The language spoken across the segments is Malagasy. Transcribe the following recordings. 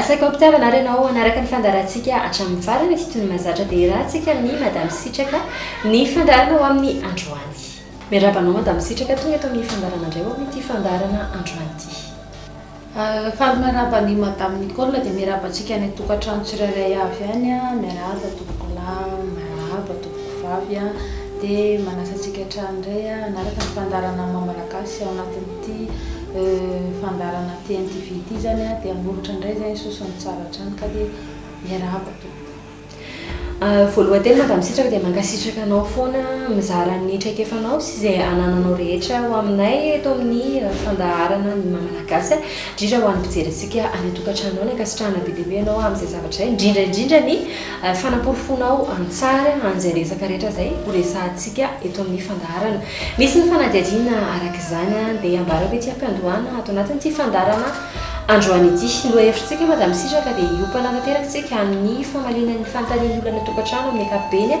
Asaiko hampitiavana ary ianao hanaraka ny fandaharantsika hatramin'ny farany toy ny mahazatra dia iarahantsika amin'ny Madame Sitraka ny fandaharana ho amin'ny androany. Miarahaba anao Madame Sitraka tonga eto amin'ny fandaharana indray ho amin'ity fandaharana androany ity. Faly miarahaba an'i Madame Nicole dia miarahaba antsika any an-tokantrano tsirairay avy any a, miarahaba tompoko lahy, miarahaba tompoko vavy a, dia manasa antsika hatrany indray hanaraka ny fandaharana maha malagasy ao anatin'ny. Ity fandaharana TNTV ity zany a, de hanoritra indray zany sosony tsara hatrany ka dia miarahaba tompoko. Voalohan teny madame Sitraka dia mankasitraka anao foana mizara ny traikefanao sy izay anananao rehetra ho aminay eto amin'ny fandaharana ny maha malagasy ahy, indrindra ho an'ny mpijery antsika any an-tokantrano any, ankasitrahana be dia be ianao amin'izay zavatra izay, indrindra indrindra ny fanaporofoanao an-tsary an'izay resaka rehetra izay ho resahantsika eto amin'ny fandaharana. Misy ny fanadihadiana araka izany dia ambarako ity am-piandohana ato anatin'ity fandaharana androany ity. Ny lohahevitr'tsika Madame Sitraka dia hiompana tanteraka isika amin'ny famaliana ny fanontanian'ny olona any an-tokantrano amin'ny ankapobeny,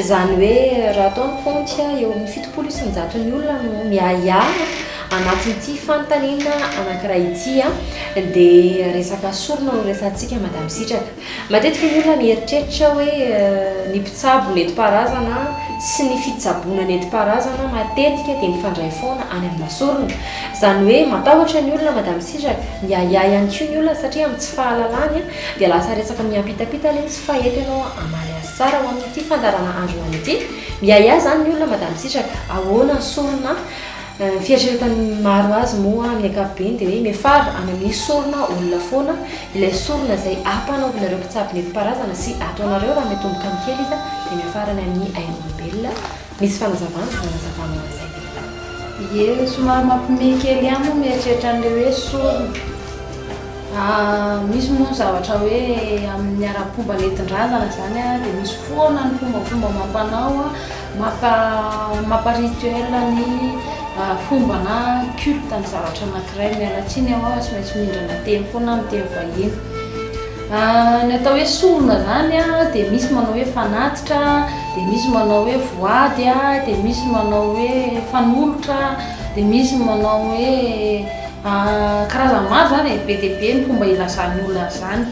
izany hoe raha atao ny kaonty eo amin'ny fitopolo isan-jaton'ny olona no miahiahy anatin'ity fanontaniana anankiray ity dia resaka sorona no resahantsika Madame Sitraka. Matetika ny olona mieritreritra hoe ny mpitsabo nentim-paharazana sy ny fitsaboana nentim-paharazana matetika dia mifandray foana any amina sorona. Izany hoe matahotra ny olona madame Siraka, miahiahy ihany koa ny olona satria amin'ny tsy fahalalany dia lasa resaka miampitapita le izy fa eto ianao hamaly azy tsara ho amin'ity fandaharana androany ity. Miahiahy izany ny olona madame Siraka, ahoana ny sorona? Ny fieritreretan'ny maro azy moa amin'ny ankapobeny dia hoe miafara amin'ny sorona olona foana ilay sorona izay ampanaovinareo mpitsabo nentim-paharazana sy ataonareo raha miatomboka ny kely izy dia miafara any amin'ny ain'olombelona. Misy fanazavana hanazavana ho an'izay lehilahy. Ie, somary mampiomehy kely ihany moa mieritreritra an'ilay hoe sorona. Misy moa ny zavatra hoe amin'ny ara-pomba nentin-drazana izany dia misy foana ny fombafomba amam-panao. Maka mapa rituel ny fomba na culte ny zavatra anankiray. Miala tsiny aho tsy maintsy mindrana teny foana aho miteny vahiny. Ny atao hoe sorona zany dia misy manao hoe fanatitra, dia misy manao hoe voady, dia misy manao hoe fanolotra, dia misy manao hoe karazany maro zany e, be dia be ny fomba ilazan'ny olona an'izany.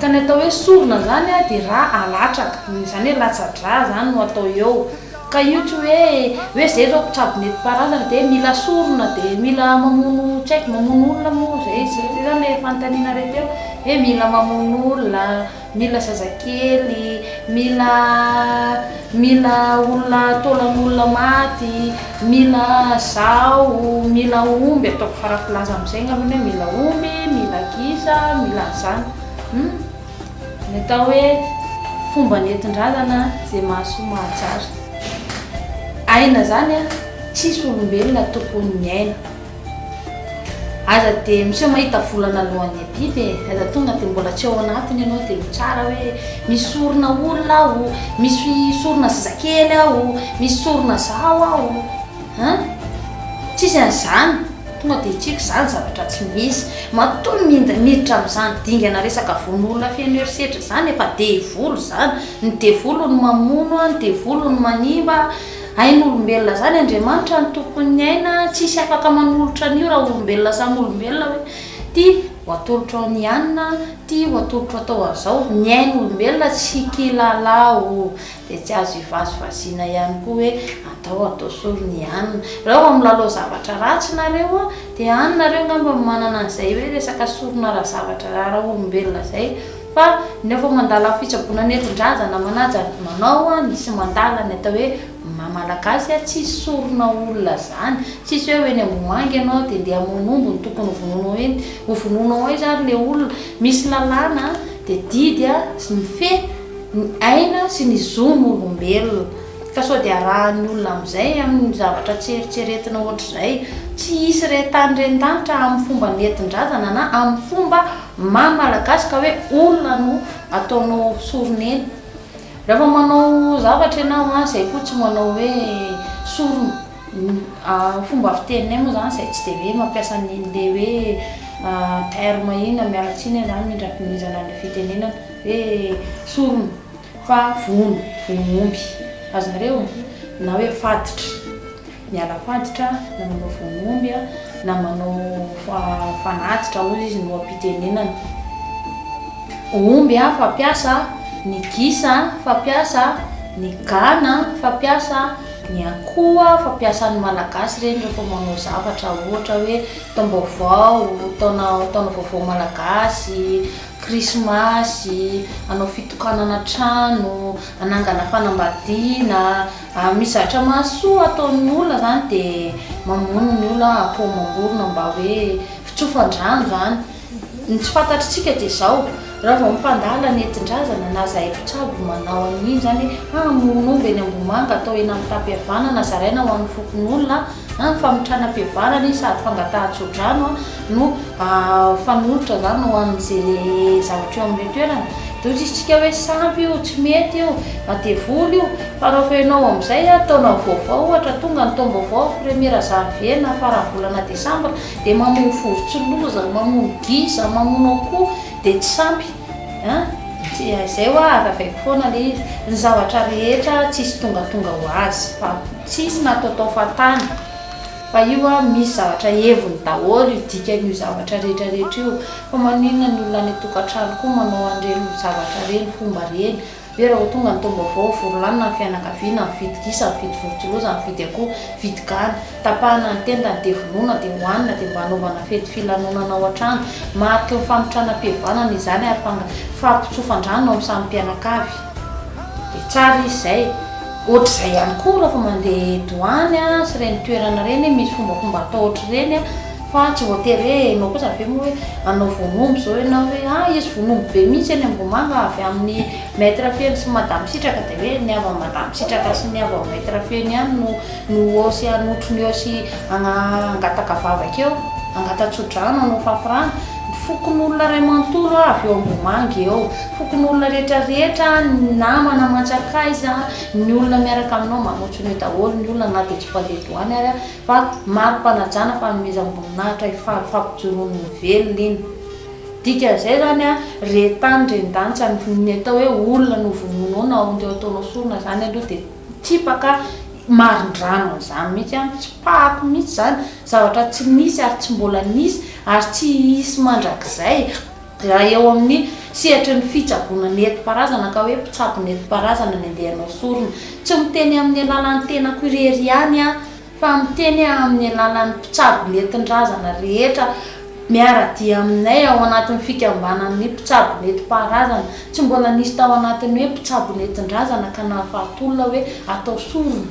Ka ny atao hoe sorona zany a de ra alatraka, zany hoe latsa-dra zany no atao eo, ka io tsy hoe hoe zay zao mpitsabo nentim-paharazana de mila sorona de mila mamono tsy haiko mamono olona moa zay izy, zay zany le fanontaniana re teo hoe mila mamono olona, mila zazakely, mila. Mila olona taolan'olona maty, mila zaho, mila omby, ataoko fara-pilaza amin'izay angambany hoe mila omby, mila gisa, mila an'izany. Hum, ny atao hoe fomba nentin-drazana izay mahasoa mahajary. Aina izany an, tsisy olombelona tompon'ny aina. Aza dia miseho mahita volana alohan'ny abiby e! Aza tonga dia mbola tsy ao anatiny ianao dia mitsara hoe misy sorona olona aho, misy sorona zazakely aho, misy sorona zaho aho an! Tsisy an'izany, tonga dia hitriaka izany zavatra tsy misy. Matoa minda miditra amin'izany dingana resaka vonoolona feno herisetra izany efa devoly izany, ny devoly no mamono, ny devoly no manimba, Ain'olombelona zany Andriamanitra ny tompon'ny aina tsisy afaka manolotra an'io raha olombelona samy olombelona hoe ty ho atolotro an'i Ianina ty ho atolotro atao an'izao ny ain'olombelona tsy kilala o dia tsy azo ivazivaziana ihany koa hoe atao atao sory ny anina raha vao milalao zavatra ratsy nareo a dia any nareo angamba no manana an'izay hoe resaka sorona ara-zavatra ara-olombelona izay Fa ny ao fa mandala ny fitsaboana nentin-draza na manaja ny manao ny sy mandala ny atao hoe maha malagasy a, tsisy sorona olona zany, tsisy hoe ho eny Ambohimanga ianao dia ndeha hamono omby no tokony ho vonoinao hoe ho vonoinao ao izany ilay olona, misy lalàna dia didy a sy mifehy ny aina sy ny zon' olombelona ka sao dia arahan'ny olona amin'izay amin'ny zavatra tsy eritreretina ohatr'izay, tsy hisy re tany ren-danitra amin'ny fomba nentin-drazana na amin'ny fomba Maha malagasy ka hoe olona no ataonao soronena. Rehefa manao zavatra ianao an, izay koa tsy manao hoe sorona. Ny fomba fiteninay moa izany izay tsy dia hoe mampiasa an'ilay hoe terme iny an, miala tsiny izany mindra pinizana ny fitenenana hoe sorona fa vono ny omby, azonareo? na hoe faditra. miala faditra na manao vononomby na manao fanatitra hozy izy no ampitenenana omby a fampiasa ny gisa fampiasa ny gana fampiasa ny akoha fampiasan'ny malagasy ireny rehefa manao zavatra ohatra hoe taom-baovao taona taona vaovao malagasy krismasy anao fitokanana trano anangana fanambadiana Amin'ny zatra mahasoa ataon'ny olona izany dia mamono ny olona akoho amam-borona mba hoe fitsofan-drano izany. Ny tsy fantatr'isika dia izao, raha vao mpandala nentin-drazana na izahay mpitsabo manao an'iny izany hoe hamono omby eny Ambohimanga atao hena mitam-pihavanana zaraina ho an'ny fokonolona, na ny famitranam-pihavanana iny sady fangatahan-tsodrano. no fanolotra zany ho an'izay le zavatra eo amin'ilay toerana dia ohatra izy tsika hoe sampy io tsy mety io na devoly io fa raha vao ianao amin'izay a taona vaovao ohatra tonga ny taom-baovao première janvier na faran'ny volana desambra dia mamono vorontsiloza mamono gisa mamono akoho dia tsy sampy a dia izay hoa azavaiko foana ilay izy ny zavatra rehetra tsisy tongatonga ho azy fa tsisy nataotao fahatany Fa io an, misy zavatra heviny daholo io dikan'io zavatra rehetra rehetra io, fa maninona ny olona any an-tokantrano koa manao an'ireny zavatra ireny, fomba ireny? Ve raha vao tonga ny taom-baovao, vory lanona ny fianakaviana, mividy gisa, mividy vorontsiloza, mividy akoho, mividy gana, tapahana ny tendany dia vonoina dia hohanina dia mba hanaovana fety filanonana ao an-trano? Mariky ny famitranam-pihavanana izany ary fanga, fampitsofan-drano eo amin'ny samy mpianakavy. Dia tsara izy izay. Ohatr'izay ihany koa rehefa mandeha douane sy ireny toerana ireny, misy fombafomba atao ohatr'ireny fa tsy voatery hoe ianao kosa avy eo moa hoe hanao vonoomby izao ianao hoe a hisy vonoomby be mihitsy eny Ambohimanga avy amin'ny Maître Feno sy Madame Sitraka dia hoe ny avy amin'i Madame Sitraka sy ny avy amin'i Maître Feno ihany no no eo sy hanotrony eo sy hagna- hangataka vavaka eo, hangata-tso-drano, hanao fafirano. Ny fokonolona iray manontolo avy eo Ambohimanga eo. Fokonolona rehetra rehetra, ny namana aman-tsakaiza, ny olona miaraka aminao manotso an'io daholo ny olona na dia tsy mpandeha douane ary aho fa mari-panajana fanomezam-boninahitra hifaly fampijoroan'ny velona iny. Dikan'izay izany an, re tany re ndantsa ny atao hoe olona novononoina ao teo ataonao sorona izany aloha dia tsipaka marindrano an'izany mihitsy an, tsipahako mihitsy izany, zavatra tsy nisy ary tsy mbola nisy ary tsy hisy mandrakizay. Raha eo amin'ny sehatry ny fitsaboana nentim-paharazana ka hoe mpitsabo nentim-paharazana ny andehanao sorona, tsy miteny amin'ny alalan'ny tenako irery ihany aho fa miteny aho amin'ny alalan'ny mpitsabo nentin-drazana rehetra miara-dia aminay ao anatin'ny fikambanan'ny mpitsabo nentim-paharazana. Tsy mbola nisy tao anatin'ny hoe mpitsabo nentin-drazana ka nahafaty olona hoe atao sorona.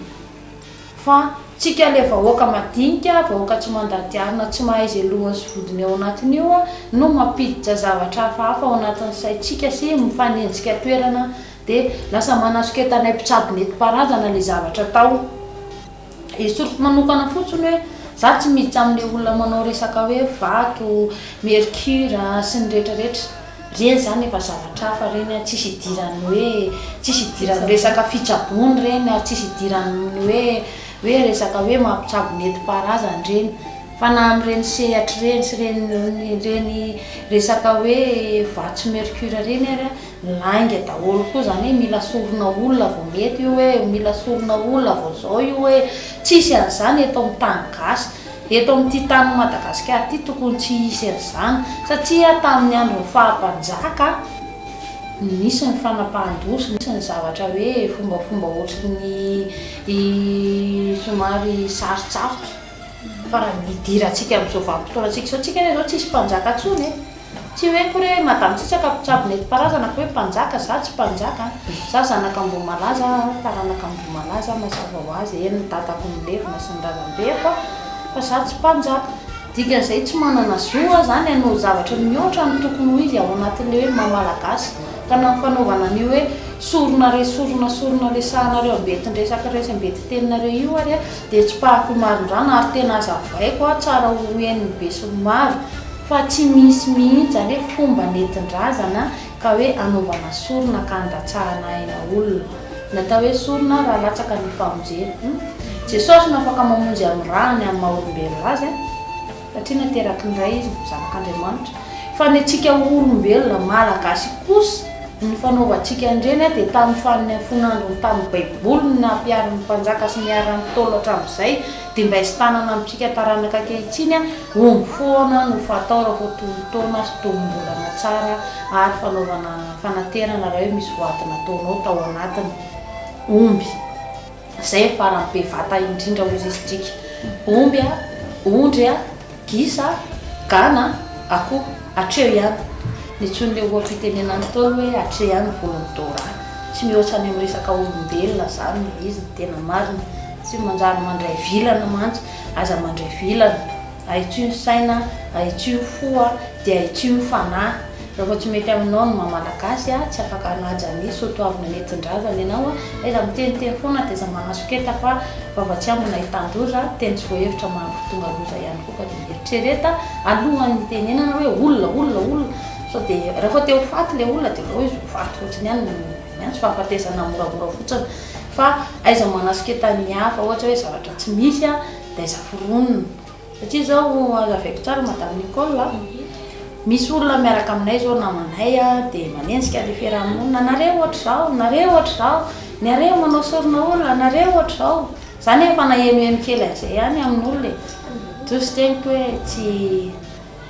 Fa tsika le vahoaka madinika, vahoaka tsy mandaty arina tsy mahay ze lohany sy vodiny ao anatiny io no mampiditra zavatra hafahafa ao anatin'ny saintsika sy mifanenjika toerana de lasa manasoketanay mpitsabo netimparazana le zavatra atao esoriko manokana fotsiny hoe za tsy miditra amle olona manao resaka hoe vato, mercure sy ny retraretra Reny zany efa zavatra hafa reny a, tsisy idiran'ny hoe, tsisy idiran'ny resaka fitsaboana reny ary tsisy idiran'ny hoe hoe resaka hoe mampitsabo nentim-paharazana reny fa na amin'ireny sehatry reny sy reny reny resaka hoe vatsy mercure reny ary a lainga daholo koa zany hoe mila sorona olona vao mety io hoe mila sorona olona vao zao io hoe tsisy an'izany eto amin'ny tany gasy. Eto amin'ity tanin'i Madagasikara ity tokony tsy hisy an'izany satria tamin'ny andron'ny faha mpanjaka nisy ny fanapahan-doza, nisy ny zavatra hoe fombafomba ohatry ny somary sarotsarotra fa raha ny hidirantsika amin'izao vanim-potoanantsika izao, tsika anie izao tsisy mpanjaka intsony e! Tsy hoe akory hoe madame Tsitsaka mpitsabo nentim-paharazana fa hoe mpanjaka, za tsy mpanjaka an! Za zanaka Ambohimalaza ary taranaka Ambohimalaza, mazava ho azy, eny ny dadako milevina sy ny razambeko an! fa za tsy mpanjaka. Dikan'izay tsy manana zo aho zany hanao zavatra mihoatra ny tokony ho izy ao anatin'ilay hoe maha Malagasy ka na ny fanaovana an'io hoe sorona re sorona sorona resahanareo ambetin-dresaka resam-betiteninareo io ary an! dia tsipahako ho marindrana ary tena azavaiko an! tsara ho henon'ny besinimaro. Fa tsy misy mihitsy zany hoe fomba nentin-drazana ka hoe anaovana sorona ka andatsahana aina olona. Natao hoe sorona raha latsaka ny famonjena. Humm. Jesosy no afaka mamonjy amin'ny rany ny amin'ny maha olombelona azy an! Satria nateraky ny Ray izy, zanak'Andriamanitra. Fa ny antsika olombelona malagasy kosa, ny fanaovantsika an'ireny an dia tamin'ny fanin'ny fon'androny tamin'ny baiboly ny nampiharin'ny mpanjaka sy niharan'ny ntaolo hatramin'izay dia mba hisy tanana amintsika taranaka ankehitriny an! Omby foana no fatao raha vao tony taona sy tony mbolana tsara ary fanaovana fanaterana raha hoe misy voady nataonao tao anatiny. Omby, izay farany be vata indrindra ozy isdrika. Omby a, ondry a, gisa, gana, akoho. Hatreo ihany. Nitsoin'ilay oha-pitenena Ntaolo hoe hatreo ihany ny volon'i Dora. Tsy mihoatra any amin'ny resaka olombelona izany ilay izy ny tena marina. Tsy manjary mandray vilana mantsy Aza mandray vilana. Ahitsio ny saina, ahitsio ny fo a, dia ahitsio ny fanahy. Rehefa tsy mety aminao ny maha Malagasy a, tsy afaka hanaja ny soatoavina nentin-drazana ianao a, aiza miteniteny foana dia aiza manasoketa fa vava tsy ambina hitan-doza, teny tsy voahevitra mahatonga loza ihany koa fa dia eritrereta alohan'ny hitenenana hoe olona, olona, olona, sao dia rehefa te ho faty ilay olona dia aleo izy ho faty fotsiny ihany no. Ny ahy tsy fahafatesana moramora fotsiny fa aiza manasiketany ny hafa ohatra hoe zavatra tsy misy a dia aiza foronina satria izao azavaiko tsara madame Nicole a misy olona miaraka aminay izao namanay a dia manenjika le fiarahamonina nareo ohatra izao nareo ohatra izao ny areo manao sorona olona nareo ohatra izao izany efa nahenoheno kely an'izay ihany amin'olona e toa sy teniko hoe tsy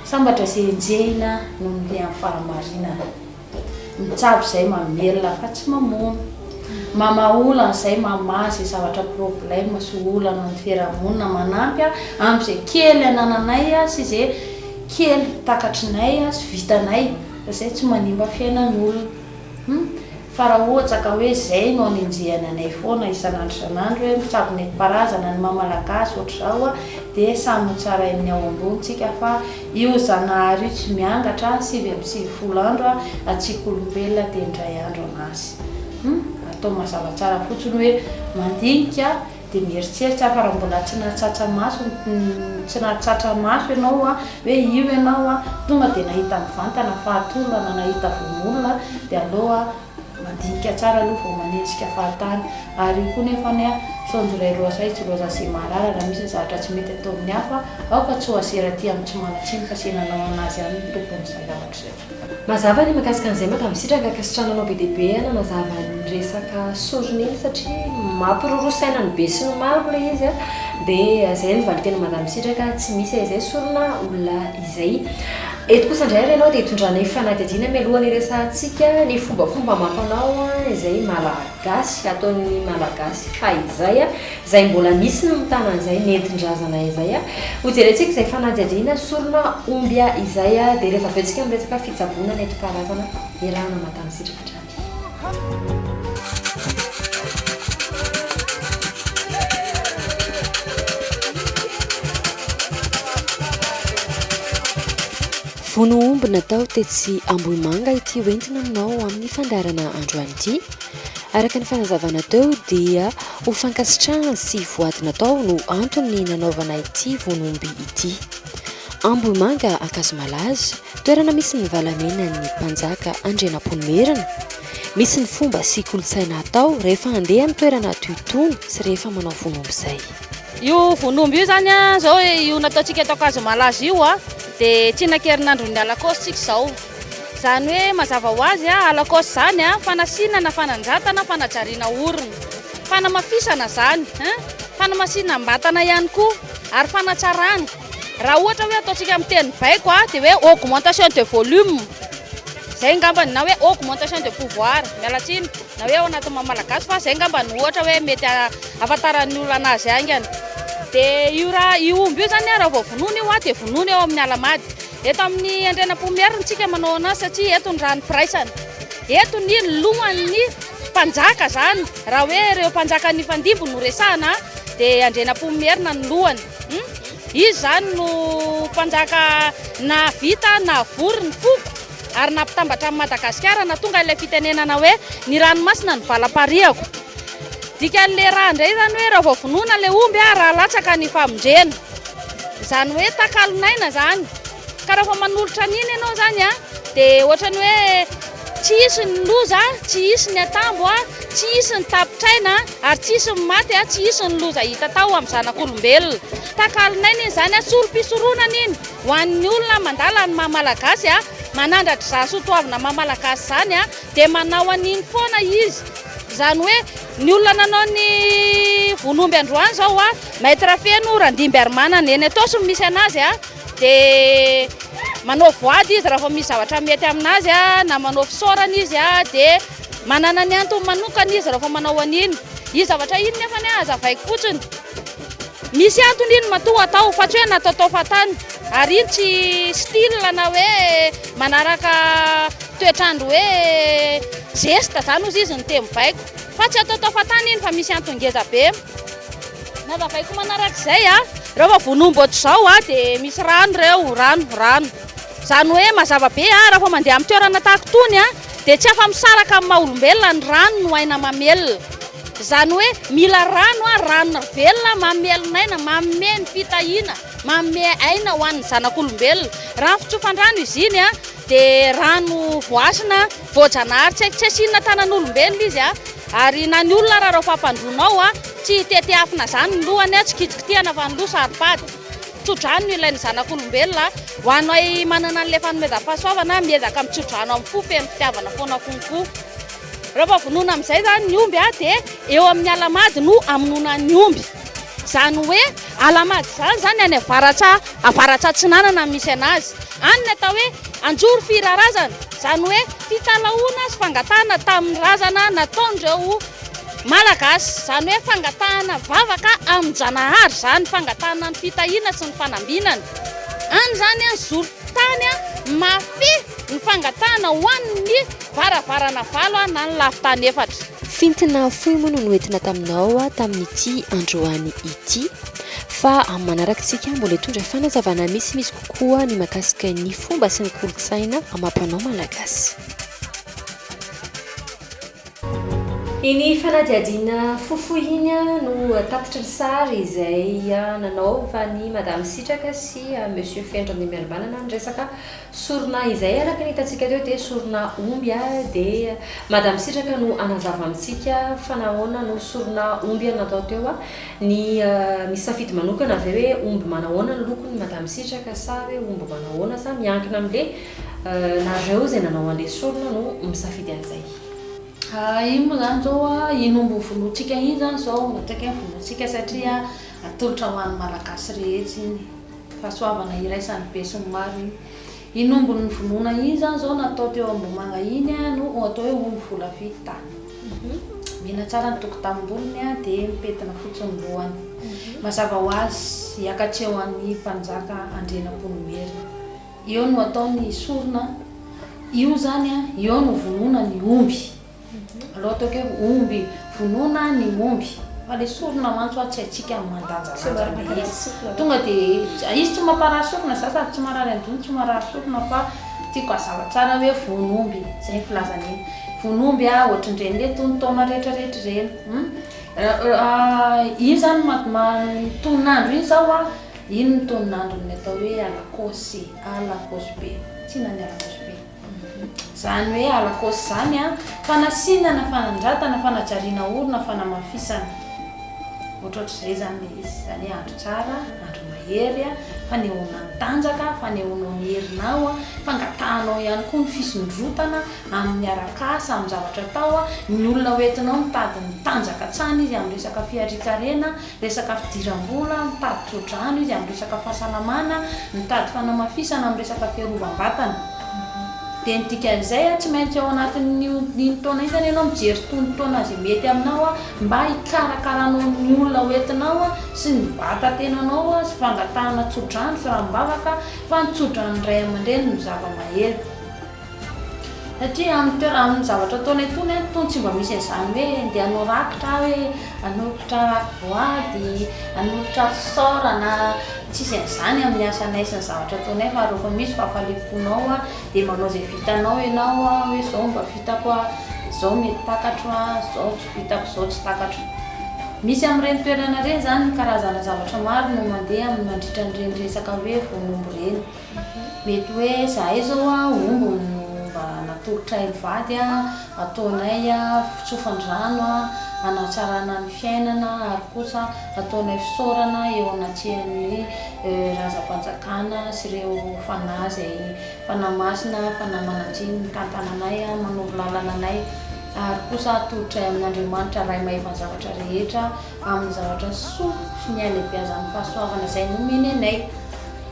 sambatra izay enjehina noho ny amin'ny fahamarinana Mitsabo izay mamelona fa tsy mamono. Mamaha olana izay mamaha izay zavatra problème sy olana amin'ny fiarahamonina manampy ahy amin'izay kely anananay sy izay kely takatrinay sy vitanay fa izay tsy manimba fiainan'olona. Hum. Fa raha ohatra ka hoe izay no anenjehany anay foana isan'andro isan'andro hoe mitsabo nentim-paharazana ny maha malagasy ohatr'izao dia samy ho tsarain'ny ao ambony tsika fa Io Zanahary io tsy miangatra sivy amby sivifolo andro a hatsiaka olombelona dia indray andro an'asy. Hum atao mazava tsara fotsiny hoe mandinika dia mieritseritsy aho fa raha mbola tsy nahatsatsa maso tsy nahatsatra maso ianao hoe io ianao a tonga dia nahita mivantana fahatolo na nahita vono olona dia aleo a Mandinika tsara aloha vao manenjika fahatany. Ary io koa nefa anie an, Misaonjo Ray Roasahy tsy Rosace Marara raha misy ny zavatra tsy mety ataon'ny hafa aoka tsy ho asera aty amin'ny tsy manan-tsiny fa se nanao an'azy ihany ny tompon'izay zavatra izay. Mazava ny mikasika an'izay maka misitraka ankasitrana anao be dia be a nanazava ny resaka sorona iny satria mampiroro saina ny be sy ny maro ilay izy a dia izay no valinteny madame misitraka tsy misy e izay sorona olona izay. Eto kosa indray ary ianao dia itondranay fanadihadiana mialoha ny hiresahantsika ny fombafomba amam-panao izay malagasy, ataon'ny malagasy fahizay, izay mbola misy ny mitana an'izay nentin-drazana izay. Hojerentsika izay fanadihadiana sorona omby izay dia rehefa avy eo isika miresaka fitsaboana nentim-paharazana iarahana maka ny sitraka hatrany. Vono omby natao tetsy Ambohimanga ity ho entina aminao amin'ny fandaharana androany ity. Araka ny fanazavana teo dia ho fankasitrahana sy voady natao no antony nanaovana ity vono omby ity. Ambohimanga Ankazomalaza, Toerana misy ny valamenan'ny mpanjaka Andrianampoinimerina. Misy ny fomba sy kolontsaina atao rehefa handeha amin'ny toerana toy itony sy rehefa manao vonombo izay. Io vonombo io izany izao io nataontsika eto Ankazomalaz io dia tsinankerinandron'ny Alakaosy isika izao. Izany hoe mazava ho azy Alakaosy izany fanasina na fanandratana fanajariana orona. Fanamafisana izany. Fanamasinam-batana ihany koa ary fanatsarana. Raha ohatra hoe ataontsika amin'ny teny baiko dia hoe augmentation de volume. Izay ngambany na hoe augmentation de pouvoir. Miala tsiny. Na hoe ao anatin'ny maha malagasy fa izay ngamba no ohatra hoe mety ahafantaran'ny olona anazy haingana. Dia io ra io omby io izany raha vao vonoina io dia vonoina eo amin'ny Alamady. Eto amin'ny Andriana Pomiera no tsika manao anazy satria eto ny rano firaisana. Eto ny lohan'ny mpanjaka izany. Raha hoe ireo mpanjaka nifandimby no resahana dia Andriana Pomierina no lohany. Izy izany no mpanjaka nahavita navory ny foko ary nampitambatra an'i Madagasikara nahatonga ilay fitenenana hoe ny ranomasina no valam-parihako. Dikan'ilay ra indray izany hoe raha vao vonoina ilay omby raha latsaka ny famondrena. Izany hoe takalon'aina izany. Ka raha vao manolotra an'iny ianao zany a, dia ohatrany hoe tsy hisy ny loza, tsy hisy ny atambo, tsy hisy ny tapitr'aina, ary tsy hisy ny maty, tsy hisy ny loza hita tao amin'ny zanak'olombelona. Takalon'aina iny zany, solom-pisoronana iny ho an'ny olona mandala ny maha Malagasy, manandratra izany soatoavina maha Malagasy izany dia manao an'iny foana izy. Izany hoe ny olona nanao ny vono omby androany izao, Maître Feno Randimbiarimanana, eny Itaosy no misy an'azy. dia manao voady izy raha vao misy zavatra mety amin'azy na manao fisaorana izy dia manana ny antony manokana izy raha vao manao an'iny iny zavatra iny nefa ny hazavaiko fotsiny misy antony iny matoa atao fa tsy hoe nataotao fahatany ary iny tsy style na hoe manaraka toetrandro hoe zesta zany ozy izy ny teny baiko fa tsy ataotao fahatany iny fa misy antony ngezabe Nazavaiko manaraka izay a, rehefa vonomy ohatr'izao a dia misy rano ireo, rano, rano. Izany hoe mazava be a, rehefa mandeha amin'ny toerana tahaka itony a, dia tsy afa-misaraka amin'ny maha olombelona ny rano no aina mamelona. Izany hoe mila rano a, rano velona mamelon'aina, manome ny fitahiana, manome aina ho an'ny zanak'olombelona. Rano fitsofandrano izy iny a, dia rano voasana. Voajanahary tsy tsy asiana tanan'olombelona izy a! Ary na ny olona ara raha ho fampandroanao a! Tsy hitetiafina zany ny lohany a! Tsy kitikitihana fa ny loha saro-pady! Tsodrano no ilain'ny zanak'olombelona a! Ho anay manana an'ilay fanomezam-pahasoavana a! Miezaka mitsodrano amin'ny fo feno fitiavana foana konko! Rehefa vonoina amin'izay zany ny omby a! Dia eo amin'ny ala-mady no amonoana ny omby! Izany hoe Alahamady izany izany any avaratra avaratra atsinanana no misy anazy. Any ny atao hoe anjoro firarazana, izany hoe fitalahoana sy fangatahana tamin'ny razana nataon'ireo Malagasy. Izany hoe fangatahana vavaka amin-janahary izany, fangatahana ny fitahiana sy ny fanambinana. Any izany an, zoron-tany mahafehy ny fangatahana ho an'ny varavarana valo na ny lafin-tany efatra. Fintina fohy moa no noentina taminao tamin'ity androany ity fa amin'ny manarakintsika mbola hitondra fanazavana misimisy kokoa ny mahakasika ny fomba sy ny kolontsaina amam-panao malagasy. Iny fanadihadiana fohifohy iny no tatitry ny sary izay nanaovan'i Madame Sitraka sy Monsieur Feno Randriamiaribanana ny resaka Sorona izay araka ny hitantsika teo dia sorona omby a dia madame sitraka no hanazava amintsika fa nahoana no sorona omby no natao teo a ny misy safidy manokana ve hoe omby manahoana ny lokony madame sitraka sa hoe omby manahoana sa miankina amle nareo izay nanao anle sorona no misafidy anzay. Ahh ino moa zany zao a, ino omby ho vonoantsika iny zany zao no tsaika ny vonoantsika satria atolotra ho an'ny malagasy rehetra iny. Fahasoavana iraisan'ny besinimaro iny. Iny ombin'ny nivonona iny izany izao natao teo Ambohimanga iny no ho atao hoe omby volavidy. Mena tsara ny tokotanim-bolony dia mipentina fotsy ny lohany. Mazava ho azy, hiakatreho an'ny mpanjaka Andrianampoinimerina. Eo no atao ny sorona, io izany, eo no vonona ny omby. Aleo ataoko hoe omby vonoina ny omby fa le sorona mantsy hoa tsy haintsika ny mandanjalanja be izy tonga de izy tsy mamparary sorona za sady tsy marary anjony tsy marary sorona fa tiako azava tsara hoe vono omby zay ny filazana iny vono omby a ohatrin'ireny le tony taona rehetra rehetra ireny hmm? iny zany tononandro iny zao a iny ny tononandron'ny atao hoe alakosy alakosy be tsy na ny alakosy be Izany hoe halakosa izany an, fanasinana, fanandratana, fanajariana orina, fanamafisana. Ohatrohatr'izay izany ilay izy. Izany hoe andro tsara, andro mahery, fanehoana ny tanjaka, fanehoanao ny herinao, fangatahanao ihany koa ny fisondrotana amin'ny arak'asa, amin'ny zavatra atao. Ny olona hoentinao mitady ny tanjaka hatrany izy amin'ny resaka fiharian-karena, Resaka fidiram-bola, mitady tsodrano izy amin'ny resaka fahasalamana, mitady fanamafisana amin'ny resaka fiarovam-batana. Dia ny dikan'izay, tsy maintsy ao anatin'iny taona iny izany ianao mijery itony fotoana izay mety aminao mba hikarakaranao ny olona ho entinao sy ny vatan-tenanao sy fangatahana tsodrano sy ranombavaka fa ny tsodrano ny ray aman-dreny no zava-mahery. Satria amin'ny toerana, amin'ny zavatra ataonay itony an, itony tsy mba misy an'izany hoe ndeha hanao rakitra aho hoe hanolotra boady, hanolotra ressort na tsisy an'izany amin'ny asanay sy ny zavatra ataonay fa rehefa misy fahafaliam-ponao an, dia manao izay vitanao ianao an, hoe izao mba vitako an, izao mety takatro an, izao tsy vitako, izao tsy takatro. Misy amin'ireny toerana ireny izany ny karazana zavatra maro no mandeha mandritra an'ireny resaka hoe voan'omby ireny. Mety hoe zahay zao a omby no mba natolotray mivady a, ataonay a fitsofan-drano a, hanatsarana ny fiainana ary kosa ataonay fisaorana eo anatrehan'ny Razam-panjakana sy ireo fanahy izay fanahy masina, fanahy mananjiny mitantana anay a, manoro lalana anay ary kosa atolotray amin'Andriamanitra Ray mahefa ny zavatra rehetra. amin'ny zavatra soa sy ny halehibeazan'ny fahasoavana izay nomeny anay.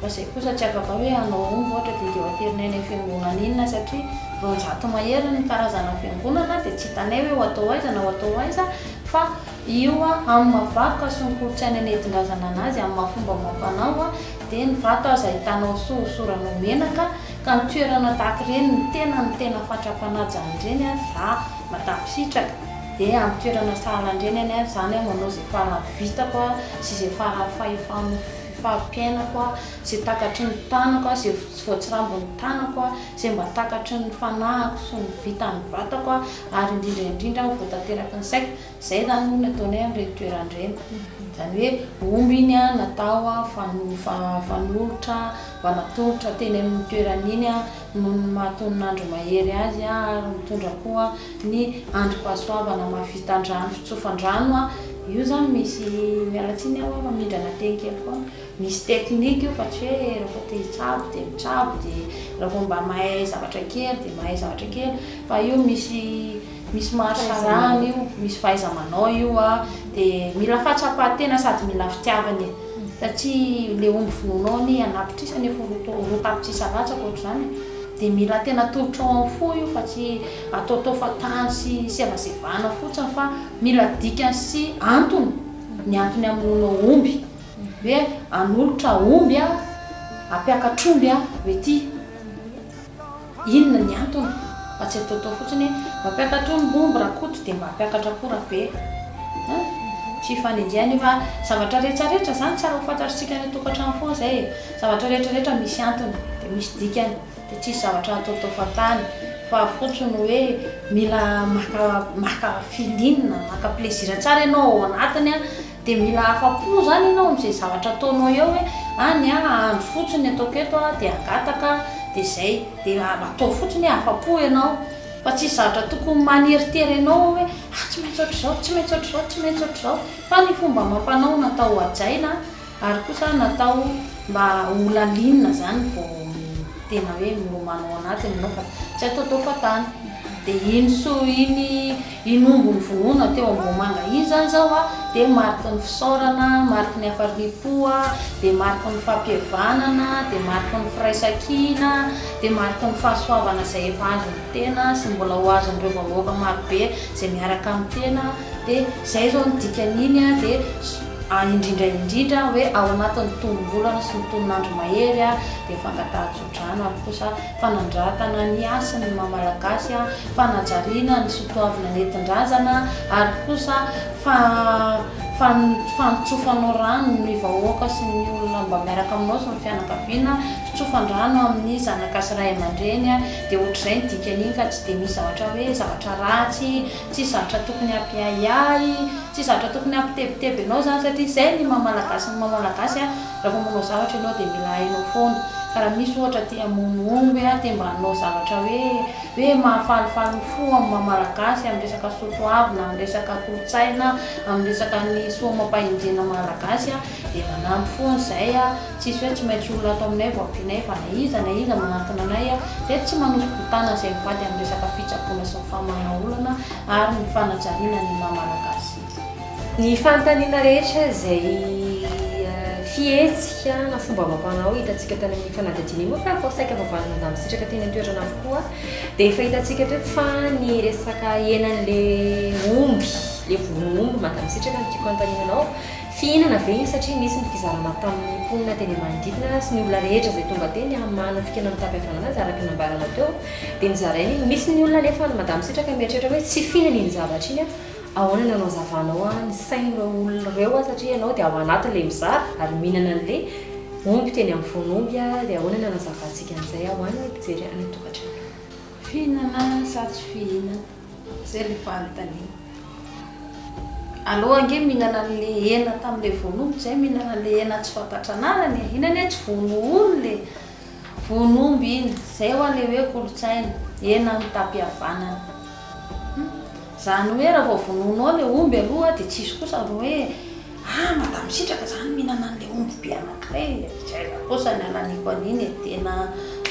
Fa izay kosa tsy afaka hoe hanao omby ohatra dia dia ho aterina eny amin'ny fiangonana inona satria roanjato mahery ny karazana fiangonana dia tsy hitanay hoe ho atao aiza na ho atao aiza fa io amin'ny maha vakoka sy ny kolontsaina nentindrazana anazy amin'ny maha fomba amam-panao dia ny vato aza hitanao soa hosoranao menaka ka ny toerana tahaka ireny ny tena ny tena fatra-panaja an'ireny raha mahatapisitraka. Dia amin'ny toerana sahala an-dreny any aho izany, manao izay faran'ny vitako sy izay faran'ny fahefan'ny fari-piainako, izay takatry ny tanako, izay tsy voatsirambin'ny tanako, izay mba takatry ny fanahiko sy ny vitan'ny vatako ary indrindra indrindra aho vao tanteraky ny saiko. Izay izany moa no ataonay amin'ireny toerana ireny. Izany hoe omby iny natao fanolotra mba natolotra teny amin'ny toerana iny noho ny maha tonin'andro mahery azy ary mitondra koa ny androm-pahasoavana maha vitan-drano fitsofan-drano io zany misy miala tsiny aho fa mindrana teny kely foana misy technique io fa tsy hoe raha vao te hitsabo dia mitsabo dia raha vao mba mahay zavatra kely dia mahay zavatra kely fa io misy misy maharsarahana io, misy fahaiza-manao io a, de mila fahatsapan-tena sady mila fitiavana e, satria le omby vonoinao anie anapitrisany efa ho roa roa tapitrisa latsaka ohatr'izany e, de mila tena tolotra ao amin'ny fo io fa tsy ataotao fa tany sy sevasevana fotsiny fa mila dikany sy antony ny antony hamonoanao omby, hoe hanolotra omby a, hampiakatr'omby a, hoe ty. Inona ny antony? Fa tsy ataotao fotsiny hoe mampiakatra ombiomby Rakoto dia mba hampiakatra koa Rabe a! Tsy hifanenjehana io fa zavatra rehetra rehetra izany tsara ho fantatr'isika any an-tokantrano foana izay e! Zavatra rehetra rehetra misy antony dia misy dikany dia tsisy zavatra ataotao fahatany fa fotsiny hoe mila maka maka feeling, maka plaisir tsara ianao ao anatiny a! Dia mila afa-po izany ianao amin'izay zavatra ataonao eo hoe any an, andro fotsiny ny ataoko eto an, dia hangataka an, dia izay, dia ataovy fotsiny hoe afa-po ianao, fa tsisy zavatra tokony maneritery anao ao hoe ah tsy maintsy ohatr'izao, tsy maintsy ohatr'izao, tsy maintsy ohatr'izao, fa ny fomba amam-panao natao hohajaina ary kosa natao mba ho lalina izany vao tena hoe milomano ao anatiny ianao fa tsy ataotao fahatany, dia iny soa iny. I Nombo nivonona teo Ambohimanga iny zany zao a, dia mariky ny fisaorana, mariky ny hafaliam-po, dia mariky ny fampihavanana, dia mariky ny firaisan-kina, dia mariky ny fahasoavana izay efa azon'ny tena sy mbola ho azon'ireo vahoaka marobe izay miaraka amin'ny tena, dia izay izao no dikan'iny a, dia indrindra indrindra hoe ao anatin'ny tonom-bolana sy ny tonon'andro mahery a, dia fangatahan-jo. Drano ary kosa fanandratana ny hasiny ny maha Malagasy, fanajariana ny soatoavina nentin-drazana ary kosa fa fa fanontsofanao rano ny vahoaka sy ny olona mba miaraka aminao sy ny fianakaviana, fitsofan-drano amin'ny zanaka sy ray aman-dreny, dia ohatr'izay ny dikan'iny ka tsy dia misy zavatra hoe zavatra ratsy, tsisy zavatra tokony hampiahiahy, tsisy zavatra tokony hampitebiteby anao izany satria izay ny maha Malagasy ny maha Malagasy. Raha vao manao zavatra ianao dia mila hainao foana ka raha misy ohatra te hamono omby a, te mba hanao zavatra hoe hoe mahafalifaly ny fo amin'ny maha malagasy amin'ny resaka soa toavina, amin'ny resaka kolontsaina, amin'ny resaka ny soa amam-pahendrena malagasy a, dia manampy foana izahay a, tsisy hoe tsy maintsy olona ato aminay vao ampianay fa na iza na iza manantona anay a, dia tsy manoso-botana izay mivady amin'ny resaka fitsaboana sy ny famahana olana ary ny fanajariana ny maha malagasy. Ny fanontaniana rehetra izay fihetsika na fomba amam-panao hitantsika tany amin'ny fanadihadiana iny moa fa efa saika voavalin'ny Madame Sitraka teny an-toerana avokoa dia efa hitantsika eto eto fa ny resaka henan'ilay omby, ilay voronomby Madame Sitraka no tiako hanontaniana anao, fihinana ve iny satria nisy ny fizarana tamin'ny mponina teny manodidina sy ny olona rehetra izay tonga teny hamano fikena mitapy havanana azy araka ny nambaranao teo dia nozaraina iny, misy ny olona anefa any Madame Sitraka mieritreritra hoe tsy fihinana iny zavatra iny aho. Ahoana no hanazavanao an ny sain ireo olona ireo an satria ianao dia ao anatin ilay mizara ary mihinana an ilay omby teny amin'ny voan'omby an dia ahoana ny hanazavantsika an'izay ho an ny mpijery any an-tokantrano. Fihinana sa tsy fihinana? Izay ilay fanontaniana. Aleo ange mihinana an'ilay hena tamin'ilay voan'omby izay mihinana an'ilay hena tsy fantatra anarany e! Iny anie tsy voan'ohony ilay. Voan'omby iny, zay hoa le hoe kolotsaina, eny amin'ny tampihavanana. Hum. Zany hoe raha vao vonoinao le omby aloha de tsisy kosa ry hoe ah madame sitraka zany mihinana an'le omby be anankiray e, tsy aiza kosa ny ananiko an'iny e, tena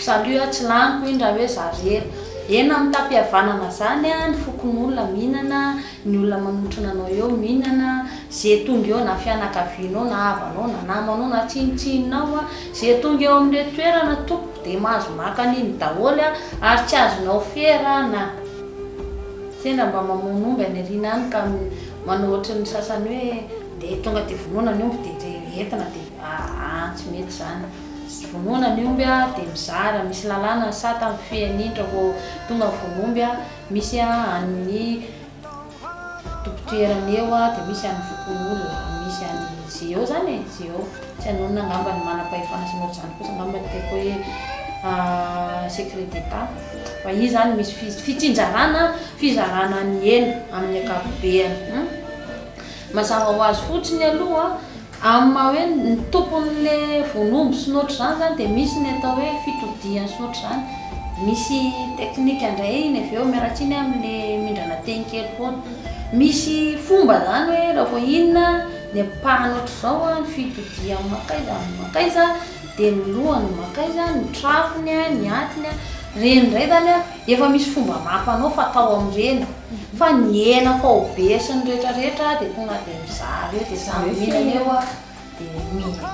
salut ah, tsy laniko iny raha hoe za rery. Eny amin'ny tampihavanana zany ah ny fokonolona mihinana. ny olona manotrona anao eo mihinana, ze tonga eo na fianakavianao na havanao na namanao na tsinontsinonao, ze tonga eo amin'ireto toerana tompoko dia mahazo maka an'iny daholo ary tsy azonao fera na sendra mba mamono omby any aoriana any ka manao ohatry ny sasany hoe ndeha tonga dia vonoina ny omby dia ze entina dia aa tsy mety izany, vonoina ny omby dia mizara misy lalàna ny sata mifehy an'iny raha vao tonga ny vono omby. Misy an'ny tompon-toerana eo dia misy an'ny fokonolona, misy an'ny GO izany e, GO. Tsy anonona angamba ny manam-pahefana sy ny ohatr'izany kosa angamba no tiako hoe secret d'Etat. Fa izy izany misy fi- fitsinjarana, fizarana ny elo amin'ny ankapobeny. Mazava ho azy fotsiny aloha. Amin'ny maha hoe ny tompon'ilay voan'omby sy ny ohatr'izany izany dia misy ny atao hoe fitodihany sy ny ohatr'izany. Misy teknika indray iny avy eo, miala tsiny aho amin'ilay mindrana teny kely foana. Misy fomba izany hoe raha vao inona ny ampahany ohatr'izao, ny fitodihany mankaiza amin'ny mankaiza, dia ny lohany mankaiza, ny trafony, ny atiny. Ireny indray izany an. Efa misy fomba maro mpanao fatao amin'ireny fa ny hena faobe sy ny rehetra rehetra dia tonga dia mizaha ireo dia samy mihinana eo a dia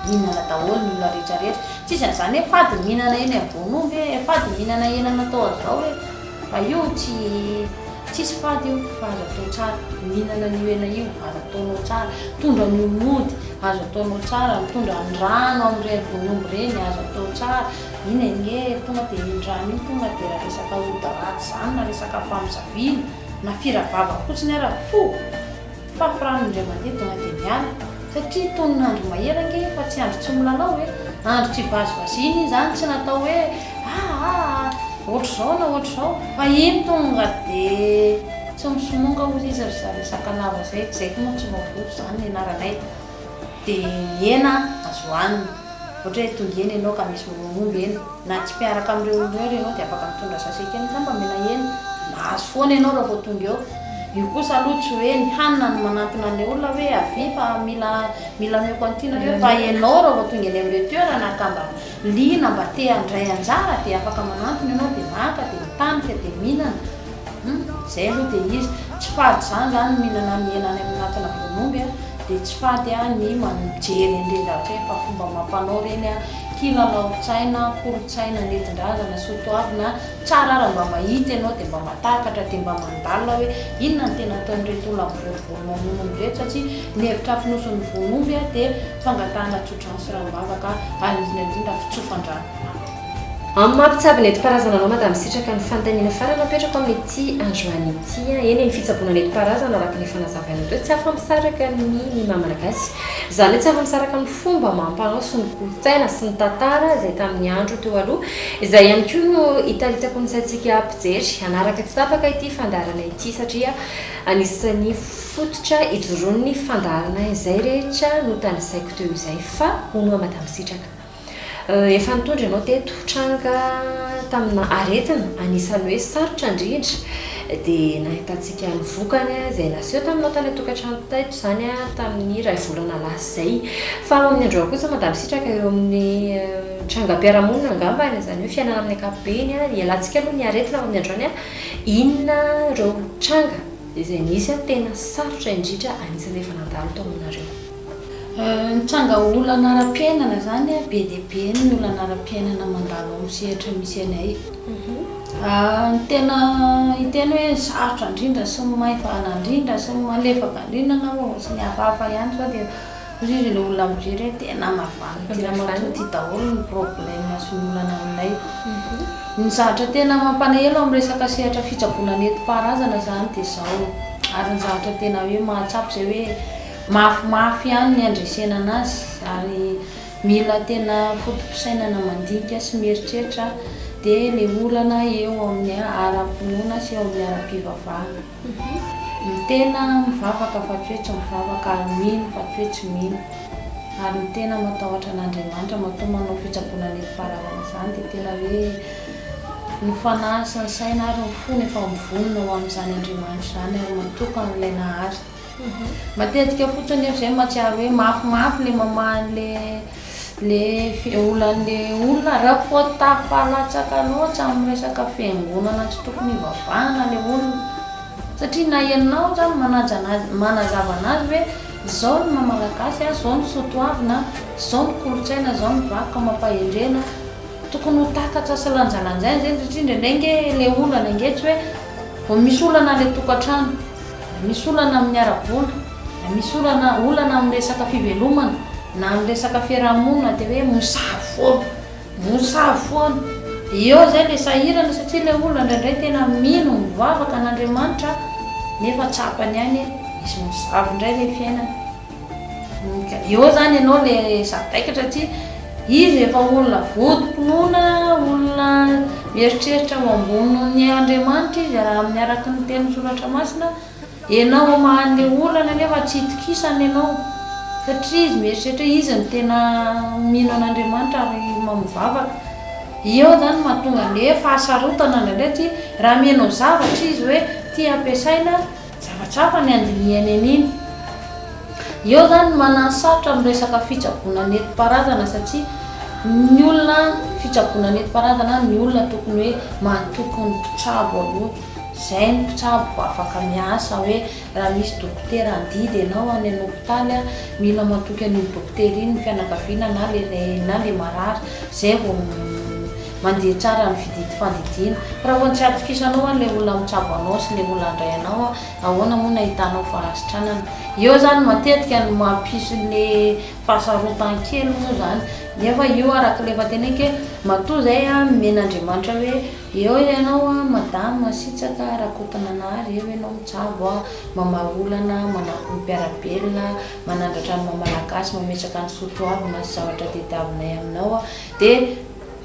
mihinana daholo ny olona rehetra rehetra tsisy an'izany hoe fady ny mihinana eny ambony omby e, fady ny mihinana hena natao an'izao e, fa io tsy tsisy fady io fa azo atao tsara, mihinana an'io hena io azo ataonao tsara, mitondra an'io mody azo ataonao tsara, mitondra ny rano amin'ireny vonomy ireny azo atao tsara. Iny ange tonga dia iny rano iny tonga dia resaka ody ratsy zany na resaka famozaviana na fira vava fotsiny ara fo fafy rano indray mandeha tonga dia miala satria tonona andro mahery ange fa tsy andro tsy milalao e andro tsy vazivaziana iny zany tsy natao hoe aa ohatr'izao na ohatr'izao fa iny tonga dia tsy misomonga hozy izy ry za resaka lava zay, zay koa moa tsy voavonjy zany nianaranay. Dia mihena an, azo hanina. Ohatra hoe tonga eny ianao ka misy miroho omby eny, na tsy mpiaraka amin'ireo olona ireo ary ianao dia afaka mitondra sachet kely ngamba mena eny, mahazo foana ianao raha vao tonga eo. Io kosa aloha tsy hoe ny hanina no manantona an'ilay olona hoe avia fa mila mila omeko an'ity nareo fa ianao raha vao tonga eny amin'ilay toerana ka mba Liana mba te handray anjara dia afaka manantona ianao dia maka dia mitanika dia mihinana hum zay aloha dia izy tsy fady zany zany ny mihinana ny hena any amin'atona voan'omby a dia tsy fady a ny mijery an'ireny zavatra ireny fa fomba amam-panao ireny a kilalaon-tsaina kolontsaina nentin-drazana sotoavina tsara ara mba mahita ianao dia mba mahatakatra dia mba mandalina hoe inona no tena ataon'ireto olona mivorivory mamono omby ireto satria ny hevitra fonosin'ny voan'omby a dia fangatahana tsotra Rano sy ranom-bava ka hanindrina indrindra fitsofan-drano. Amin'ny maha mpitsabo nentim-paharazana anao Madame Sitraka ny fanontaniana farany apetrako amin'ity androany ity an! eny ny fitsaboana nentim-paharazana araka ny efa nazavainao teo tsy afa-misaraka amin'ny ny maha malagasy izany hoe tsy afa-misaraka amin'ny fomba amam-panao sy ny kolontsaina sy ny tantara izay tamin'ny andro teo aloha izay ihany koa no hitaritsako ny saintsika mpijery hanaraka tsy tapaka ity fandaharana ity satria anisan'ny Fototra ijoroan'ny fandaharana izay rehetra notanisaiko teo izay fa hono aho Madame Sitraka. Efa nitondra ianao teto tranga tamina aretina anisan'ny hoe sarotra indrindra dia nahitantsika ny vokany izay naseho taminao tany an-tokantrano teto izany tamin'ny iray volana lasa izay. Fa amin'ny androany kosa Madame Sitraka eo amin'ny trangam-piarahamonina angambany izany hoe fiainana amin'ny ankapobeny, hialantsika aloha ny aretina amin'ny androany, inona ireo tranga? Dia izay nisy an tena sarotra indrindra anisany efa nandalo tao aminareo. Nitranga olana ara-piainana zany be dia be ny olana ara-piainana mandalo amin'ny sehatra misy anay. Ny tena hiteny hoe ny sarotra indrindra sy ny maivana indrindra sy ny malefaka indrindra angamba vao tsy ny hafahafa ihany zao dia. Ririny olona mijery hoe tena mavandy ty ramatoa ty daholo ny problème sy ny olana aminay. Ny zavatra tena mampalahelo amin'ny resaka sehatra fitsaboana nentim-paharazana izany dia izao ary ny zavatra tena hoe mahatsapa izay hoe mafimafy ihany ny handresena anazy ary mila tena foto-pisainana mandinika sy mieritreritra dia ilay olana eo amin'ny ara-pinoana sy eo amin'ny ara-pivavahana. Ny tena mivavaka fa tsy hoe tsy mivavaka ary mino fa tsy hoe tsy mino, ary ny tena matahotra an'Andriamanitra matoa manao fitsaboana nentim-paharazana izany dia tena hoe ny fanahy sy ny saina ary ny fony efa mivonona ho amin'izany Andriamanitra izany ary matoky an'ilay Nahary Matetika fotsiny nefa izay mahatsiaro hoe mafimafy ilay mamaha an'ilay olan'ilay olona. Raha koa tafalatsaka loatra amin'ny resaka fiangonana tsy tokony hivavahana ilay olona, satria na ianao izany manazava an'azy hoe izao ny maha malagasy an, izao ny soatoavina an, izao ny kolontsaina, izao ny vakoka amam-pahendrena, tokony ho takatra sy lanjalanjaina izay satria indraindray ange ilay olana ange tsy hoe vao misy olana any an-tokantrano. Misy olana amin'ny ara-bola, misy olana olana amin'ny resaka fivelomana, na amin'ny resaka fiaraha-monina dia hoe mosavy foana, mosavy foana. Dia eo izay ilay sahirana satria ilay olona indraindray tena mino, mivavaka an'Andriamanitra nefa tsapany ihany hoe misy mosavy indray ilay fiainana. Eo zany ianao le sady taikatra tsy izy efa olona votom-pinoana, olona mieritreritra ho ambony noho ny Andriamanitra izy raha amin'ny araka ny tenin'ny soratra masina, ianao hamaha le olana nefa tsy itokisany ianao satria izy mieritreritra hoe izy no tena mino an'Andriamanitra ary mahay mivavaka. Eo zany no mahatonga ny hoe fahasarotana ndraindray tsy raha amianao zavatra izy hoe ty ampiasaina, Tsapatsapan ny andinihany an'iny. Eo zany ny mananosarotra amin'ny resaka fitsaboana nentim-paharazana satria ny olona fitsaboana nentim-paharazana ny olona tokony hoe matoky ny mpitsabo aloha. Zay ny mpitsabo vao afaka miasa hoe raha misy dokotera handidy ianao any an' hopitaly a, mila matoky an'iny dokotera iny ny fianakaviana na le na le marary zay vao Mandeha tsara ny fididy fandidiana. Raha vao tsy atokisanao an ilay olona mitsabo anao sy ilay olona handray anao an, ahoana moa no ahitanao fahasitranana? Eo zany matetika no mampisy le fahasarotan-kely moa zany. Nefa io araka ilay efa teneniko hoe matoa zay an nomena Andriamanitra hoe eo ianao an madama Masitsaka Rakotonanahary, eo ianao mitsabo an, mamaha olana, manampy ny mpiara-belona, manandratra ny maha malagasy, mametraka ny soa toavina sy zavatra tediavinay aminao an, dia.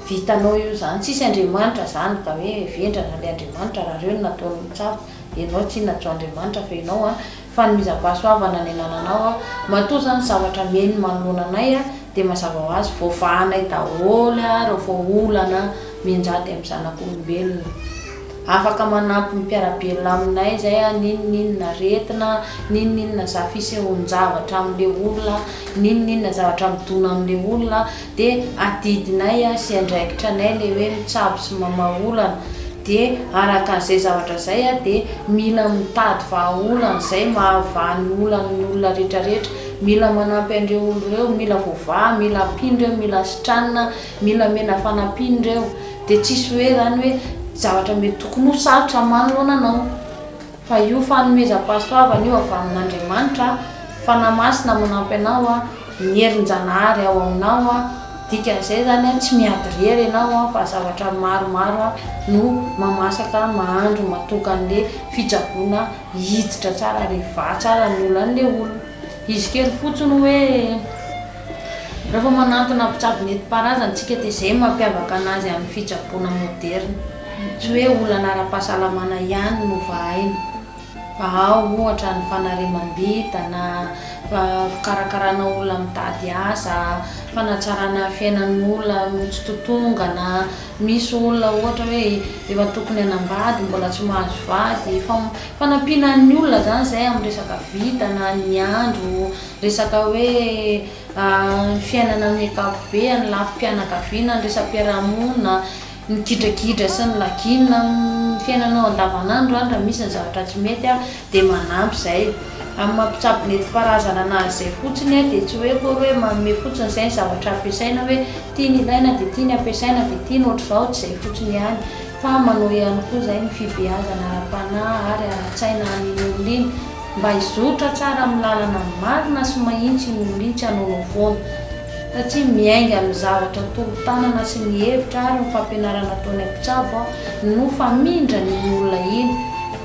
Vitanao eo zany tsisy Andriamanitra zany ka hoe vendrana le Andriamanitra raha reo no nataony ho tsapa enao tsy najo Andriamanitra fa enao a fanomezam-pahasoavana ny anananao a matoa zany zavatra meno manoloana anay a de mazava ho azy voavahanay daholo a reo fa olana mianjady am zanak'olombelona afaka manampy ny mpiara-belona aminay zay a n'inon'inona aretina n'inon'inona za fisehoan-javatra am le olona n'inon'inona zavatra midona am le olona de adidinay a sy andraikitra anay le hoe mitsabo sy mamaha olana de araka an'izay zavatra zay a de mila mitady vahaolana zay mahavaha ny olan'ny olona rehetra rehetra mila manampy an'ireo olo reo mila voavaha mila ampino reo mila asitranina mila amena fanampiana reo de tsisy hoe zany hoe zavatra mety tokony ho sarotra aman loana anao. Fa io fanomezam-pahasoavana io avy amin' Andriamanitra, Fanahy Masina manampy anao, ny herin-Janahary ao aminao, dikan' izay izany tsy miady irery ianao fa zavatra maromaro no mamasaka mahandro matoky an' ilay fitsaboana hiditra tsara ary hivaha tsara ny olan' ilay olona. Izy kely fotsiny hoe. Rehefa manantona mpitsabo nentim-paharazana isika dia izay no mampiavaka anazy amin' ny fitsaboana môderina. Tsy hoe olana ara-pahasalamana ihany no vahaina fa ao ohatra ny fanariamam-bintana, fikarakarana olona mitady asa, fanatsarana fiainan'olona mitsitotongana, misy olona ohatra hoe efa tokony hanambady mbola tsy mahazo vady, fanampiana ny olona izany izay amin'ny resaka vintana, ny andro, resaka hoe fiainana amin'ny ankapobeny, ny lafim-pianakaviana, ny resa-piarahamonina. Migidragidra sy ny lagiana amin'ny fiainanao andavanandro any raha misy ny zavatra tsy mety dia manampy izay. Amin'ny maha mpitsabo nentim-paharazana anazy izay fotsiny dia tsy hoe akory hoe manome fotsiny izay ny zavatra ampiasaina hoe ity no ilaina dia ity no ampiasaina dia ity no ohatr'izao, tsy izay fotsiny ihany fa manao ihany koa izay ny fibeazana ara-panahy ary ara-tsaina an'iny olona iny mba hizotra tsara amin'ny lalana marina sy mahitsy iny olona iny tsy hanaonao foana satria miainga amin'ny zavatra tolo-tanana sy ny hevitra ary ny fampianarana ataon'ny mpitsabo aho no famindra an'iny olona iny,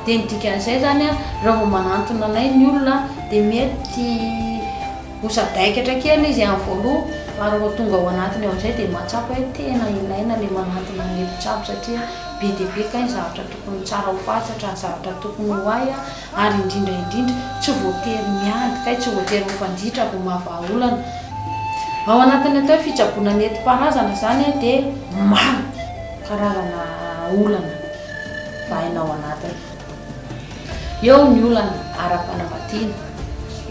dia ny dikan'izay zany raha vao manantona anay ny olona dia mety ho sadaikatra kely izy amin'ny voaloha fa raha vao tonga ao anatiny ao amin'izay dia mahatsapa hoe tena ilaina ilay manantona an'ilay mpitsabo satria be dia be kay ny zavatra tokony tsara ho fatratra, ny zavatra tokony ho hay. ary indrindra indrindra tsy voatery miady kay tsy voatery mifanditra vao mahavaha olana ao anatin'ny atao hoe fitsaboana nentim-paharazana izany dia maro karazana olana vahaina ao anatiny eo ny olana ara-panambadiana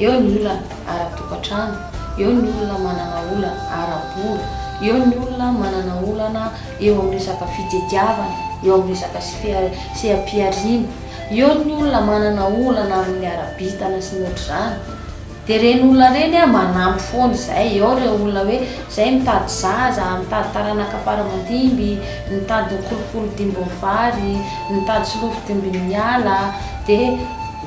eo ny olana ara-tokantrano eo ny olona manana olana ara-bola eo ny olona manana olana eo amin'ny resaka fitediavana eo amin'ny resaka seha-pihariana Eo ny olona manana olana amin'ny ara-bintana sy ny ohatr'izany dia ireny olona ireny a manampy foana izay, eo ireo olona hoe izay mitady zaza, mitady taranaka fara aman-dimby, mitady kolikoly dimbin'ny vary, mitady solofo dimbin'ny ala dia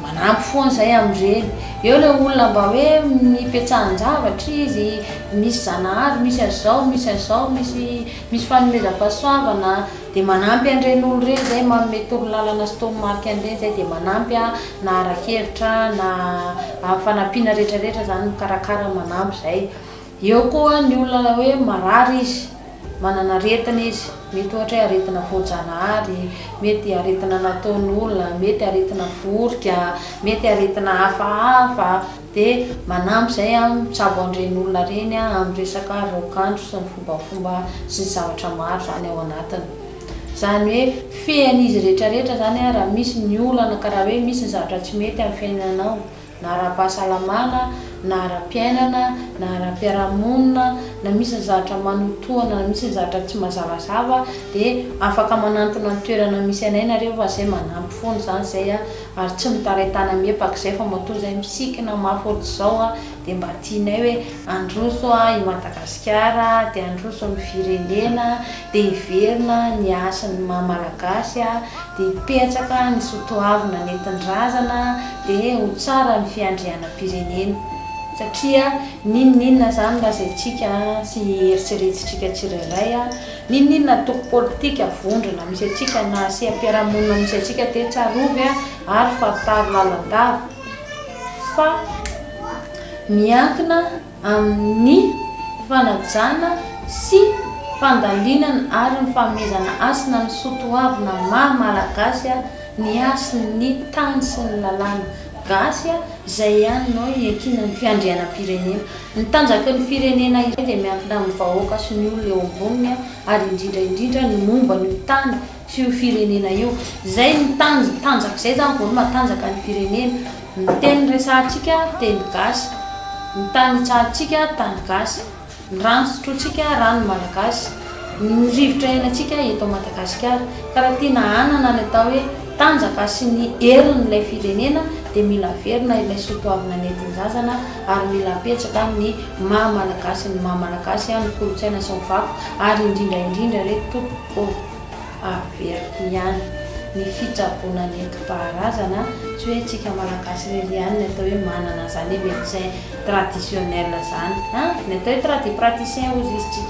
manampy foana izay amin'ireny. Eo ilay olona mba hoe nipetrahan-javatra izy, misy zanahary, misy an'izao, misy an'izao, misy misy fanomezam-pahasoavana, Dia manampy an'ireny olona ireny izay manome torolalana sy toromarika an'ireny izay dia manampy na ara-kevitra na amin'ny fanampiana rehetrarehetra izany mikarakara manampy izay. Eo koa ny olona hoe marary izy, manana aretina izy, mety ohatra hoe aretina voajanahary, mety aretina nataon'olona, mety aretina vorika, mety aretina hafahafa. Dia manampy izay aho mitsabo an'ireny olona ireny amin'ny resaka raokandro sy ny fombafomba sy ny zavatra maro izany ao anatiny. Izany hoe fean'izy rehetrarehetra izany aho raha misy ny olana ka raha hoe misy ny zavatra tsy mety amin'ny fiainanao na ara-pahasalamana na ara-piainana na ara-piarahamonina na misy ny zavatra manotohana na misy ny zavatra tsy mazavazava dia afaka manantona ny toerana misy anay nareo fa izay manampy foana izany izay aho Ary tsy mitaray tana miepak'izay fa matoa zay misikina mafy ohatr'izao a, dia mba tianay hoe handroso i Madagasikara a, dia handroso ny firenena a, dia hiverina ny hasin'ny maha malagasy a, dia hipetraka ny sotoavina nentin-drazana a, dia ho tsara ny fiandrianam-pirenena. Satria n'inon'inona zany lazaintsika sy eritreretintsika tsirairay a, N'inon'inona antoko politika, vondrona, misy antsika na seha-piarahamonina misy antsika dia tsarovy ary fantaro lalandava fa miankina amin'ny fanajana sy fandalinana ary ny fanomezana hasina ny soatoavina maha Malagasy ny hasin'ny tany sy ny lalàna gasy izay ihany no iankinan'ny fiandrianam-pirenena. Ny tanjaky ny firenena iray dia miankina amin'ny vahoaka sy ny olona eo amboniny ary indrindra indrindra ny momba an'io tany sy io firenena io. Izay ny tanj tanjaka izay izany vao hoe matanjaka ny firenena. Ny teny resahantsika teny gasy. Ny tany hitsahantsika tany gasy. Ny rano sotrointsika rano malagasy. Ny rivotra iainantsika eto Madagasikara. Ka raha tiana hanana ny atao hoe tanjaka sy ny herin'ilay firenena dia mila averina ilay soatoavina nentin-jazana. ary mila apetraka amin ny maha malagasy ny maha malagasy an ny kolotsaina sy ny vakoka ary indrindra indrindra re tompoko ô averiko ihany ny fitsaboana nentim paharazana tsy hoe tsika malagasy irery ihany ny atao hoe manana zany hoe medecin traditionnel zany an ny atao hoe tradipraticien ozy izy tsy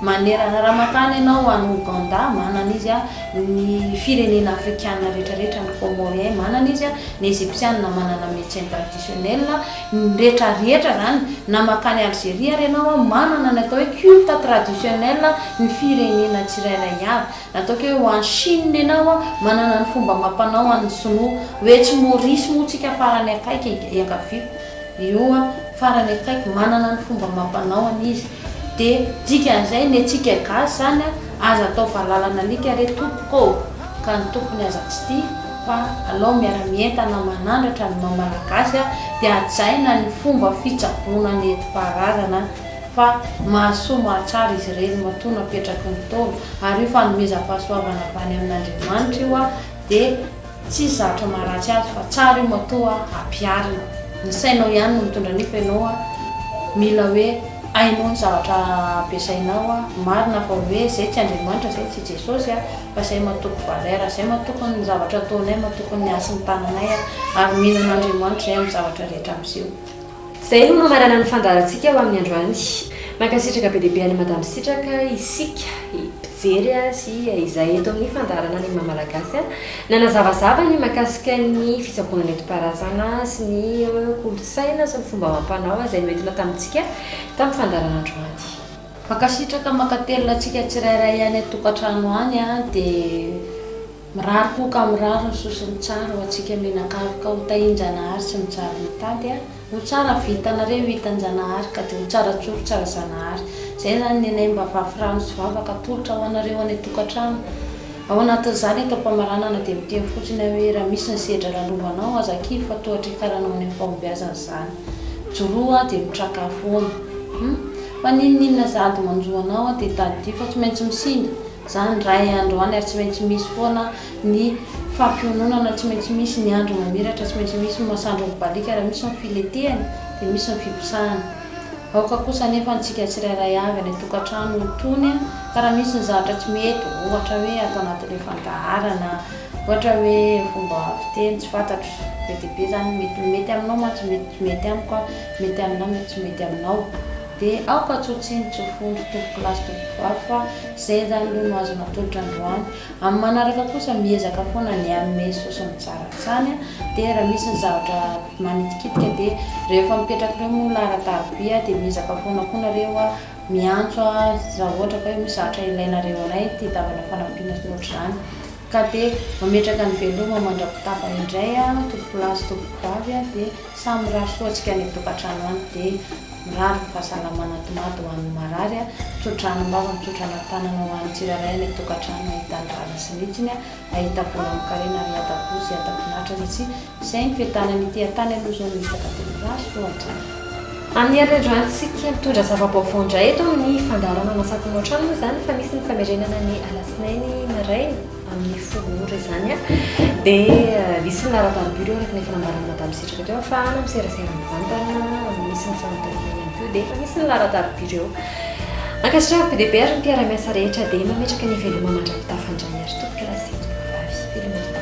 manerana raha makany ianao any ouganda manana izy an ny firenena afrikana rehetra rehetra ny comorien manana izy an ny egyptiana manana medecin traditionnel Chanel, ny rehetra rehetra zany na makany Algerie ary ianao an manana ny atao hoe culte traditionnel ny firenena tsirairay avy na ataoko hoe ho any Chine ianao an manana ny fomba amampanao an ny sinoa ho etsy Maurice moa tsika farany akaiky enga iangaviako io an farany akaiky manana ny fomba amampanao an izy de dikan'izay ny antsika gasy zany an aza atao valalan'alika re tompoko ô. ka ny tompony aza tsy tia fa alao miara mientana manandratra ny maha malagasy aho dia hajaina ny fomba fitsaboana nentim-paharazana fa mahasoa mahatsara izy ireny matoa napetraky ny Ntaolo ary io fanomezam-pahasoavana avy any amin'Andriamanitra io aho dia tsisy zavatra maharatsy azy fa tsara io matoa ampiharina ny sainao ihany no mitondra an'io fa ianao aho mila hoe hainao ny zavatra ampiasainao aho marina fa hoe izay tsy Andriamanitra izay tsy Jesosy aho fa izay matoky valeur, izay matoky ny zavatra ataonay, matoky ny hasin'ny tananay ary mino an'Andriamanitra izay amin'ny zavatra rehetra miseho. Izay no mamarana ny fandaharantsika ho amin'ny androany. Mankasitraka be dia be an'i Madame Sitraka isika mpijery sy izay eto amin'ny fandaharana ny maha Malagasy nanazavazava ny mahakasika ny fitsaboana nentim-paharazana sy ny kolontsaina sy ny fomba amam-panao izay noentina tamintsika tamin'ny fandaharana androany. Mankasitraka mankatelina antsika tsirairay any an-tokantrano any a, dia mirary koa ka mirary ny soa sy ny tsara ho antsika mianakavy ka ho tahian-Janahary sy ny tsara mitady a, ho tsara vintanareo hitan-Janahary ka dia ho tsara tsory tsara Zanahary, izay izany ny anay mba vafy rano sy vavaka atolotra ho anareo any an-tokantrano, ao anatin'izany eto am-pamaranana dia miteny fotsiny aho hoe raha misy ny sedra lalovanao aza kivy fa toa hatrikaranao any amin'ny fahombiazana izany, joroa dia mitraka foana, hum. Fa n'inon'inona zady manjo anao an dia tadidio fa tsy maintsy misinda zany ray an androany ary tsy maintsy misy foana ny fampiononana tsy maintsy misy ny andro mamiratra tsy maintsy misy ny masandro mibaliaka ary misy ny filetehany dia misy ny fiposahany aoka kosa anefa antsika tsirairay avy any antokatrano ho tony an ka raha misy ny zavatra tsy mety ohatra hoe ato anatin'ilay fandaharana ohatra hoe fomba fiteny tsy fantatro be dia be zany mety mety aminao mantsy mety tsy mety amiko an Mety aminao mety tsy mety aminao de aoka tsotsiny tsofondro tompokilasy tompokovavy fa zay zany aloha no azo natolotra androany amin'ny manaraka kosa miezaka foana ny hanome sosony tsara hatsany de raha misy ny zavatra manitikitika de rehefa mipetrak'ireo moa laharatarobia de miezaka foana koa nareo miantso azy raha ohatra ka hoe misy zavatra ilainareo anay tia davana fanampiana sy ny ohatr'izany ka de mametraka ny veloma mandra-pitafa indray tompokilasy tompokovavy de Samy mirary soa antsika any an-tokantrano any dia mirary ny fahasalamana tomady ho an'ny marary, tsotra anim-bava, mitsotra ana-tanana ho an'ny tsirairay any an-tokantrano ahita ny rariny sy ny hitsiny, ahita vola amin-karena ary hata-po sy hata-pinaritra ary tsy izay ny fiadanany ity an-tany aloha izao no hita ka dia mirary soa hatrany. Amin'ny herinandro antsika mitondra zava-baovao indray eto amin'ny fandaharana Mahasaky Moa Hatrany moa izany fa misy ny famerenana ny alatsinainy maraina. amin'ny fomba ohatra izany an, dia misy ny laharam-paribiro araka ny efa nambaran'i Madame Sitraka teo fa any amin'ny serasera mivantana, misy ny fanontanina ihany koa dia efa misy ny laharan-taribiro eo. Ankasitrahako be dia be ary ny mpiara-miasa rehetra dia mametraka ny veloma mandra-pitafandray ary tompokalahy sy tompokavavy veloma indrindra.